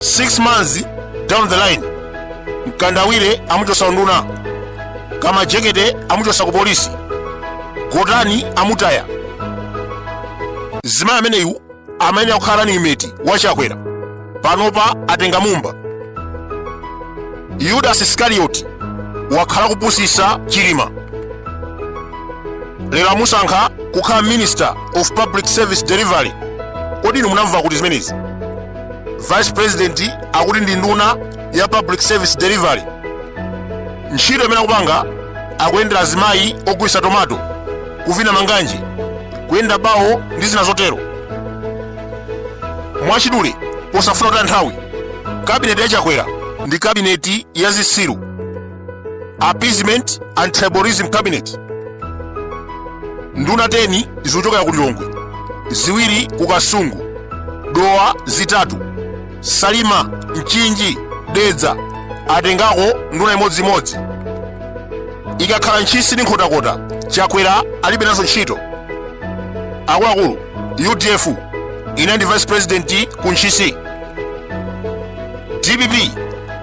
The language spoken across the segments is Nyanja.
6 months down the line mkandawire amuchosa unduna Kamajekete amuchosa ku polisi gotani amutaya zimayi ameneyu amene akukhala ni imeti wachakwera panopa atenga mumba yudasi iskarioti wakhala kupusisa chilima lero amusankha kukhala minister of public service delivery kodi inu munamva kuti zimenezi vice president akuti ndi nduna ya public service delivery ntchito imene akupanga akuyendera azimayi ogulitsa tomato kuvina manganje kuyenda bawo ndi zina zotero mwachidule posafuna kutaya nthawi kabineti ya chakwera ndi kabineti ya zisiru appeasement and tribalism cabinet nduna 10 zikuchokera ku lilongwe ziwiri ku kasungu dowa zitatu salima mchinji dedza atengako nduna imodzimodzi ikakhala ntchisi ndi nkhotakota chakwera alibe nazo ntchito akuluakulu udf inali ndi vice president ku ntchisi dpp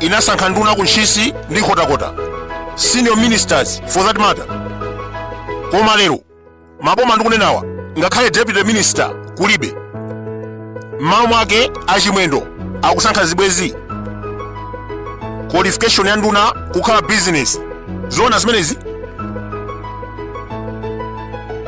inasankha nduna ku ntchisi ndi nkhotakota senior ministers for that matter koma lero maboma ndikunenawa ngakhale deputy minister kulibe m'malo mwake achimwendo akusankha zibwezi qualification ya nduna kukhala business zoona zimenezi